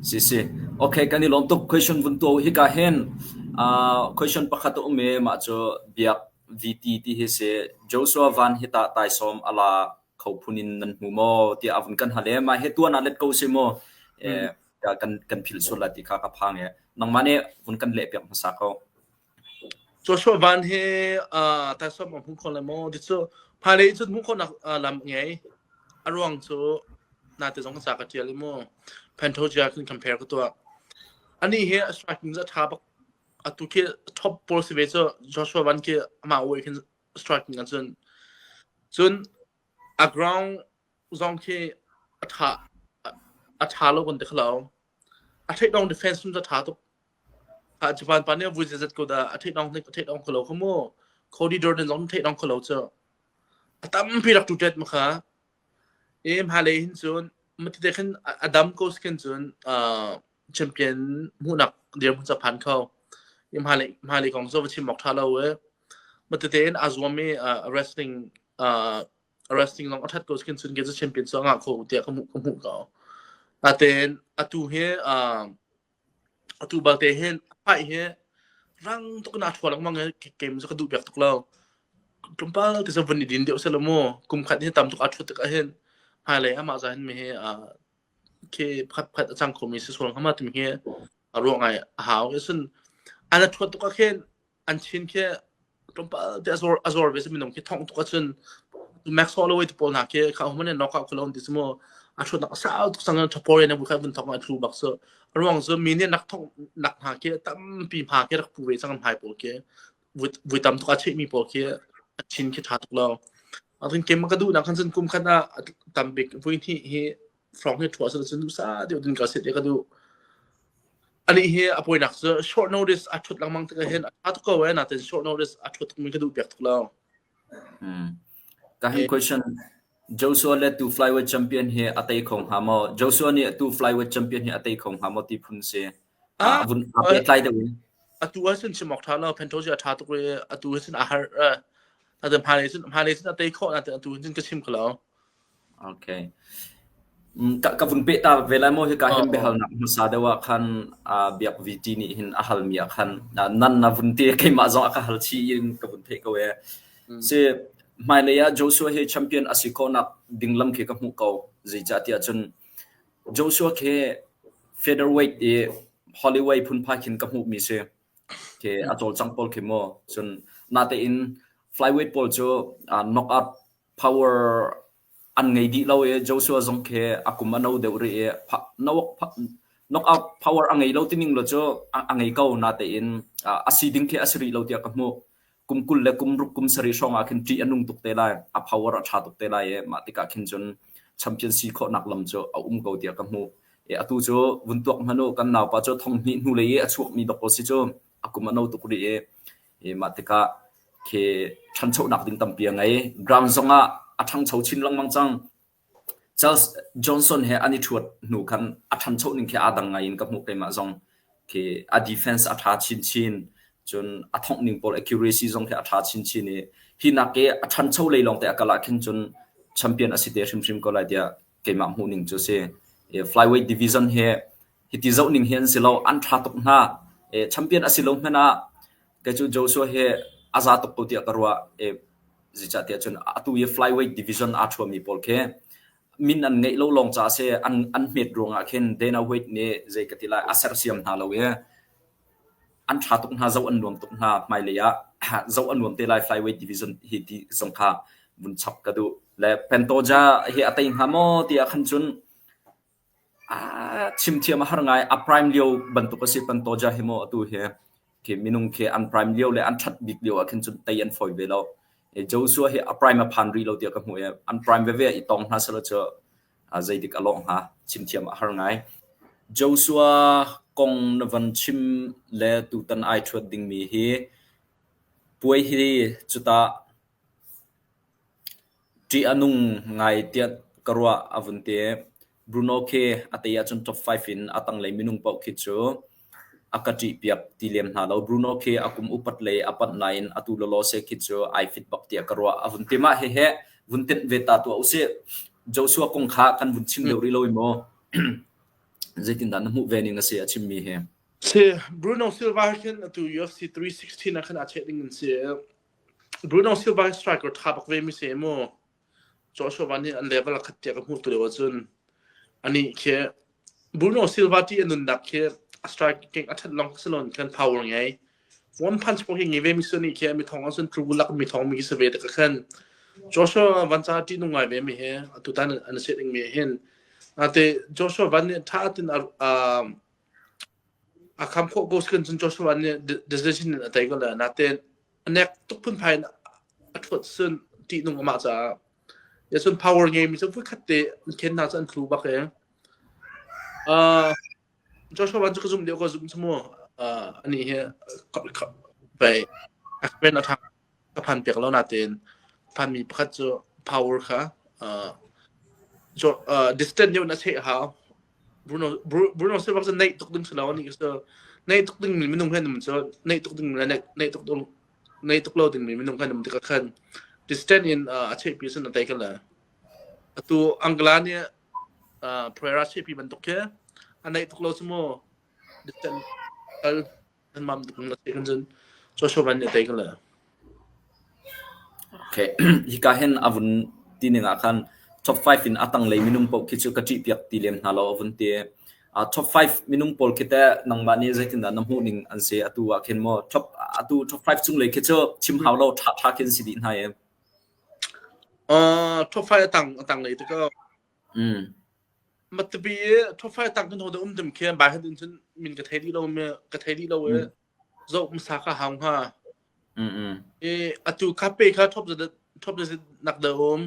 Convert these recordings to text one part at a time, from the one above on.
Si, okay kan i lawm tuk. Question vun tuah uh. Hika hin uh, question pakhat a um i mah cu Biak VT ti hi si Joshua Van hi tah taisawm ala kho phun in nan hmu maw tiah avun kan hale ma he tuan ah let ko si maw eh kan kan phil sul la ti kha ka phang e nangmah ne vun kan le piak hmasa ko Joshua Van he uh, taisawm a hmu kho le maw ti cu phailei cun hmu khonak uh, lam ngei a ruang cu na te zong ka ca ka tial i mu Pantoja kan compare ka tuah ani he a striking za tha bak atu ke top ball si ve cu Joshua Van ke ama oi khin striking an cun cun a ground zong khi a tha a tha lo kan te khlo a take down defense cun za tha tuk a japan pa nih vui zat ko da a theih dong a theih dong kholo kha mu Cody Jordan zong theih dong kholo chu a tampi rak tu tet ma kha e ma le hin cun matite khan adam ko skin cun champion mu nak dir mu japan kho im ha le ma le kong so va chim mok tha lo e matete in azwami wrestling wrestling long athat ko skin cun ge champion so nga kho tia kha mu kha mu ko aten atu he Atu balte hin a paih hi rang tuk in a thua lengmang i kem cu ka duh piak tuk lo. Tlawmpal ti cu vun i din deuh seh law mu kum khat hi tam tuk a thut tikah hin hmailei amah zahin mi hi aa khi pakhat pakhat a cang khomi si sual hnga ma timi hi a ruang ai a hau. Cun a na thawt tuk ah khin an chin khi tlawmpal te azor azor ve minung khi thong tuk achun max ho lawai pawl na ke kha hman nok ka kulon ti smo athut nak sao tuk sang thapore na bu kha bun thong athu bak so ruang zo mi ne nak thong nak ha ke tam pi ma ke rak pu ve sang mai po ke vui tam tuk ache mi po ke chin khi tha tuk lo atin kem ka du na khan sun kum khana tambik vui thi hi frog hi thuah sal cun dusa deuh din ka set e ka du ani hi a poinak cu short notice a thut langmang te hen a to ko na ten short notice a thut min ka du pek thula ka hi question Joshua let to flyweight champion hi a tai khong ha mo Joshua ni to flyweight champion hi a tai khong ha mo ti phun se a vun a pe tlai de atu a sin chimok tha lo pento ji a tha to atu sin a har ta de mha ne sin mha ne sin a tai kho na te atu sin ka chim khlo Okay. Mm, ka, ka vun pehta ve lai maw hika hin biahalnak hmasa deuh ah khan uh, biak VT nih hin a halmi ah khan uh, nan na vun te keimah zong a ka hal chi in ka vun theih ko e mm. si hmailei ah Joshua hi champion asi ko nak dinglam khi ka hmu ko zeicah ti ahcun Joshua khi featherweight i Hollywood phun phai khin ka hmu mi si khi a tol cang pol khi mo cun na te in flyweight pawl cu uh, knock out power an ngei dih lo i Joshua zong khi a kum a no deuh rih i knockout power a ngei lo tining lo cu a ngei ko natein a si ding khi a si rih lo tiah ka hmuh kum kul le kum ruk kum sarih hrawng ah khin ṭih a nung tuk te lai a power a ṭha tuk te lai i mah tikah khin cun champion si khawhnak lam cu a um ko tiah ka hmuh i atu cu vun tuak hmanh u kan naupa cu thong hnih hnulei i a chuakmi dok ko si cu a kum a no tuk rih i, i mah tikah khi ṭhanchonak ding tampi a ngei. Ground zong ah a ṭhangcho chin lengmang cang. Charles Johnson he an i ṭhuat hnu khan a ṭhancho ning khi aa dang ngai in ka hmuh keimah zong khi a defense a ṭha chinchin cun a thongh ning pawl accuracy zong khi a ṭha chinchin i hi nak i a ṭhancho lei lawng te a kal ah khin cun champion a si te hrimhrim ko lai tiah keimah hmuhning cu a si. Flyweight division hi hiti zohning hi an si lo. An ṭha tuk hna. Champion a si lo hmanh ah kei cu Joshua hi a za tuk ko tiah ka ruah. Zeicahtiah cun atu i flyweight division aa ṭhuami pawl khi min an ngeih lo lawng caah a si. An hmet ruangah khin Dana White nih zei ka ti lai a sersiam hna lo i an ṭha tuk hna, zoh an nuam tuk hna. Hmailei ah zoh a nuam te lai Flyweight Division hi ti zong kha vun chap ka duh. Le Pantoja hi a tei hnga maw ti ah khan cun ah, chimthiam a har ngai. A prime lio bantuk a si Pantoja hi maw atu hi. Khi minung khi an prime lio le an ṭhat bik lio ah khin cun tei an fawi ve lo. Joshua hi a prime a phan rih lo tiah ka hmuh i an prime veve i tong hna selaw cu Zeitik a lawh hnga chimthiam a har ngai. Joshua kong na van chim le tutan ai ṭhuat dingmi hi puai hi cutah ṭih a nung ngai tiah ka ruah a vun ti. Bruno khi a tei ahcun top five in a tanglei minung paoh khi cu A ka ṭihpiak ti lem hna lo. Bruno khi a kum upat le a panh nain atu lawlaw seh khi cu ai fit bak tiah ka ruah. A vun ti mah hihi vun tenh ve ta tuah usih. Joshua kong kha kan vun chim deuh rih lo i maw zeitindah na hmuh ve ning a si a chimmi hi? Si, Bruno Silva hi khin atu UFC 316 ah khan a cheh ding in si. Bruno Silva hi striker ṭha bak vemi si mu. Joshua Van nih an level a khat tiah ka hmuh tu lio ahcun anih khi Bruno Silva ti a nunnak khi a striking a that long si lo kan power ngei one punch pong hi ngi ve mi sun khi mi thong an sun tru lak mi thong mi si ve te ka khan Joshua Van cha ti nung ngai ve mi he atu tan an se ding mi hin ate Joshua Van nih tha tin a a kham khawh ko skin cun cho suan nih decision in a tei ko le natein a nek tuk phun phai in a thuat sun ti nung ama caah ya sun power ngei mi cu vui khat te ken na chan thlu bak e uh cho suan cu zum deu ko zum chmu uh ani hi bai akpen a ka phan piak lo natein phanmi pakhat cu power kha uh, uh, distant neu na se ha Bruno Bruno Silva cu nei tuk ding silo ni so nei tuk ding mi minung khan so nei tuk ding mi nei tuk ding nei tuk lo ding mi minung khan ti ka khan distant in a che pi sun tai kala tu angla ni Pereira che pi ban tuk ke anai tuk lo sumo distant al Kan mam tuk nak tiin cun social van nih a tei ko le. Okay. Hika hen a vun ti ning ah khan top 5 in a tanglei minung pawl khi cu ka ṭih piak ti lem hna lo a vun ti. Uh, top 5 minung pawl khi teh nangmah nih zeitindah na hmuh ning an si atu ah khin maw top atu top 5 cunglei khi cu chim hau lo ṭha ṭha khin si dih hna e. Uh, top 5 a tang a tanglei te ko. Matabi i thufai tak nu da um dem khe bai hat in cun min ka thei dih lo me ka thei dih lo e zoh masa ka hau hnga i atu kape kha thop da thop da nak da um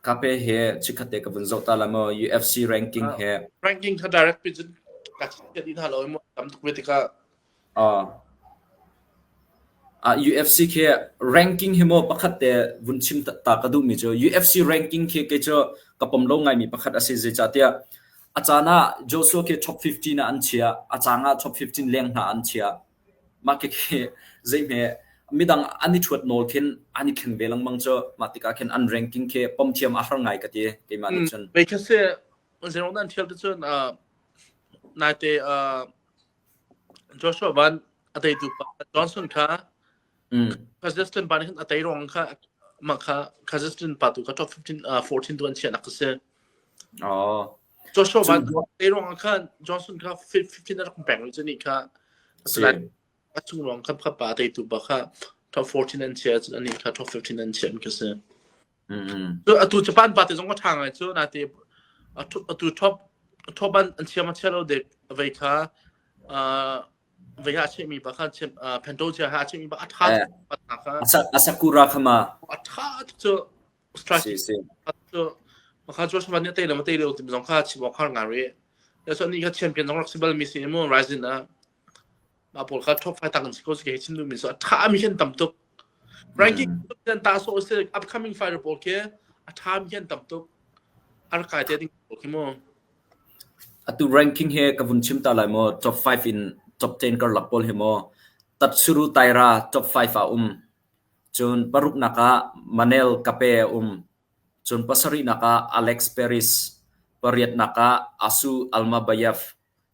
kape he chikhate ka vun zoh ta la mo UFC ranking he ranking kha direct pin cun ka chit ka di na lo e mo tam tuk ve tika UFC khi ranking hi maw pakhat te vun chim ta ka duhmi cu UFC ranking khi kei cu ka pom lo ngaimi pakhat a si zeicahtiah a caan ah Joshua khi top 15 ah an chiah a caan ah top 15 leng hna an chiah mah khi zeihme midang an i thuat nawl khin an i khen ve lengmang cu mah tikah khin an ranking khi pom thiam a har ngai ka ti keimah nih cun. Bei khi se zeiruang dan thial tu cun naite Joshua van a teitu pa Johnson kha Kazakhstan pa nih khan a tei ruang kha mah kha Kazakhstan pa tu kha 14 tu an chiahnak a si. Joshua van tei ruang khan Johnson kha 15 a rak peng cu ni kha a si lai. A chung ruang khan pa teitu pa kha 14 an chia cun ani kha 15 an chia an ka si. Cu atu Japan pa te zong a ṭha ngai cu nate atu top top an an chiam a chelo dek vei kha vei ha chemi pa khan pento chia ha chemi pa a ṭha hna kha a sakura kha ma a ṭha cu strategy cu makha George van ne tele ma tele zong kha chibok har nga re so ni kha champion zong rak si bal mi si mu rising na mah pawl kha top 5 tak an si ko ke chin min so a tha mi hin tam tuk ranking dan ta so se upcoming fighter pawl ke a tha mi hin tam tuk ar kai te ding pawl khi mo atu ranking he ka vun chim ta lai mo top 5 in top 10 kar lak pawl he mo tat suru taira top 5 a um chun paruk naka manel kape um chun pasari naka alex paris pariat naka asu almabayev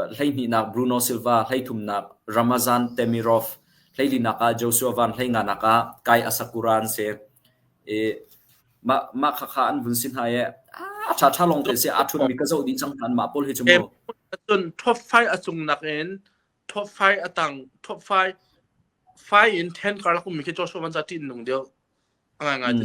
Hleihnihnak Bruno Silva, hleithumnak Ramazan Temirov, hleilinak ah Joshua Van hleinganak ah Kai Asakura an si. I mah, mah khakha an vun si hna i a ṭhaṭha lawng te si aa ṭhunmi ka zoh dih cang hna mah pawl hi cu mu. Cun top five a cung nakin top five a tang top five five in ten karlak um mi khi Joshua Van za ṭin nung deuh. A ngai ngai te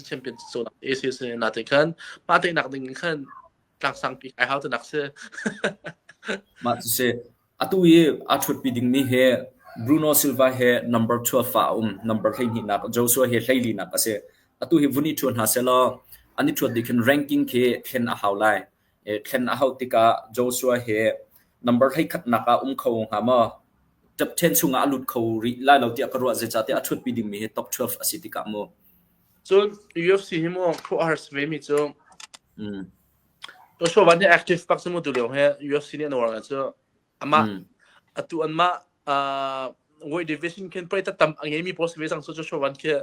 championship AC si natin khan mah teinak ding in khan tlaksang pi kai hau tunak si mah tu se atu i a thutpi ding mi he Bruno Silva he number 12 fa um number hlei ni nak Joshua he hlei li nak ase atu hi vuni thu hna selo ani thut di khin ranking khi khen a hau lai thlen a hauh tikah Joshua hi number hleikhatnak ah um kho hnga maw? Top 10 chungah a lut kho rih lai lo tiah ka ruah zeicahtiah a ṭhutpi dingmi hi top 12 a si tikah mu. Cun UFC hi mu phuh a harsa vemi cu mm. to show van hi active pak mu tu leo he UFC nih an war cu ama mm. atu an ma uh, weight division ken pray ta tam ange mi post ve sang so to show van khi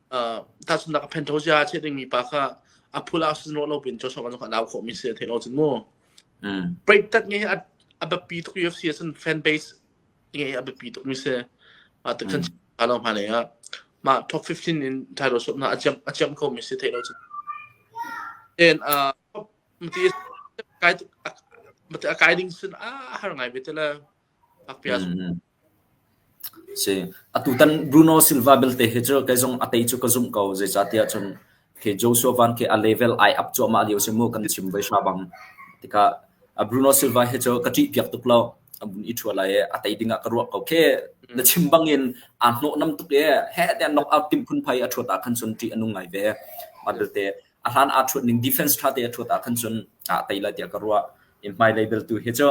tahchunhnak phentho cia a chiah dingmi pa kha a phul ah sun rawh lo pin cawsawk an an au khawhmi si a thei lo cun mu preitat nge a biapi tuk UFC a cun fan base nge a biapi tuk mi si a tak san a lo ma le a ma top 15 in title shot na a jam a jam ko mi si thei lo cun and uh mati kai mati a kai ding sun a har ngai ve tela Atutan Bruno Silva belte hi cu kei zong a tei cu ka zumh ko. Zeicahtiah cun khi Joshua Van khi a level ai up cuahmah lio si mu kan chim ve hra bang. Tikah a Bruno Silva hi cu ka ṭih piak tuk lo. A bun i ṭhua lai i a tei dingah ka ruah ko khi. Na chim bangin aa hnawhnam tuk i heh tiah knockout timh phun phai a ṭhuat ah khan cun ṭih a nung ngai ve. Mah belte a hlan aa ṭhuat ning defense ṭhate a ṭhuat ah khan cun aa tei lai tiah ka ruah. I hmailei belte hi cu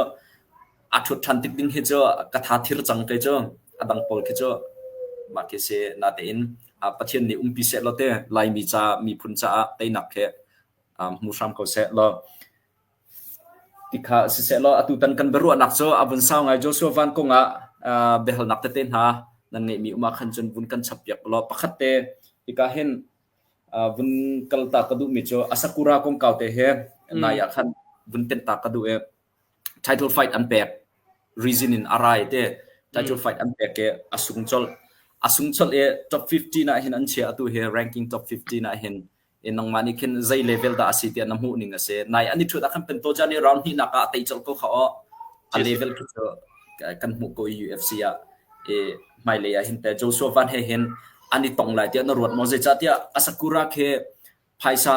a ṭhut ṭhan tik ding hi cu ka tha thir cang kei cu a dang pawl khi cu mah khi si natein ah Pathian nih umpi seh law te Laimi ca miphun caah teinak khi hmu hram ko seh law ti kha si seh law atu tan kan biaruahnak cu a vun sau ngai Joshua van kong ah biahalnak tete hna nan ngeihmi um ah khan cun vun kan chappiak law pakhat te ika hin vun kalta ka duhmi cu Asakura kongkau te he nai ah khan vun tenta ka duh i title fight an pek reason in a rai te title fight an pek i a sung colh a sung colh i top 15 ah hin an chia atu hi ranking top 15 ah hin i nangmah nih khin zei level dah a si tiah na hmuh ning a si nai an i ṭhut ah khan pen to chan i round hnihnak ah tei colh ko kha aw a level khi cu kan hmuh ko i UFC ah i hmailei ah hin te Joshua Van he hin an i tong lai tiah na ruat maw zeicahtiah a sakura khi phaisa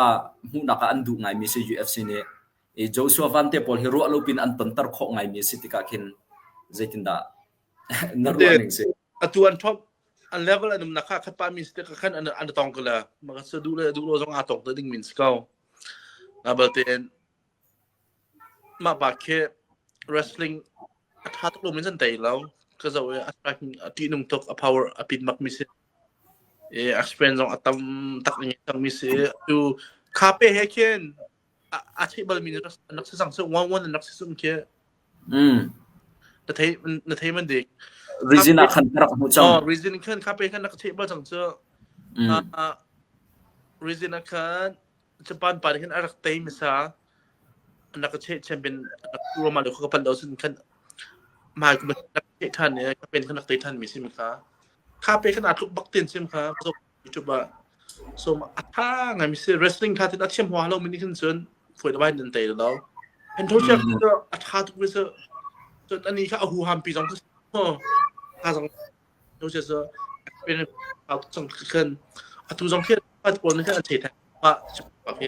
hmuhnak ah an duh ngaimi si UFC nih Joshua Vante pawl hi ruah lopi in an tonter khawh ngaimi a si tikah khin zeitindah na ruah ning si? Atu an top an level an um nak kha khat pahmi si tikah khan an an tong ko le maka sa duh le duh lo zong aa tong te ding min si ko na balte mah pa khi wrestling a tha tuk lo min san tei lo ka zo e a striking a ti nung tuk a power a pit mak mi si e a strength zong a tam tak ni tak mi si tu kha pe he khin a theih balmi an rak si sang so one one an rak si sung khi na thei na thei man dik reason a khan rak mu chang oh reason khan kha pe khan nak thei bal chang chu reason a khan japan pa hin a rak tei misa nak che champion roma lo ko pan do sun khan mai kuma nak te than ne ka pen khan nak te than mi sim kha kha pe khan atluk baktin sim kha YouTube ah. So a tha ngaimi si wrestling kha tin a thiam hua lomi nih khin cun foi labai nan tei lo. Entourage cu a tha tuk mi su cun ani kha a hu ham pi zong ku ho tha zong no se su pen a chong khan a tu zong khi a pon khan a che tha ba pa ke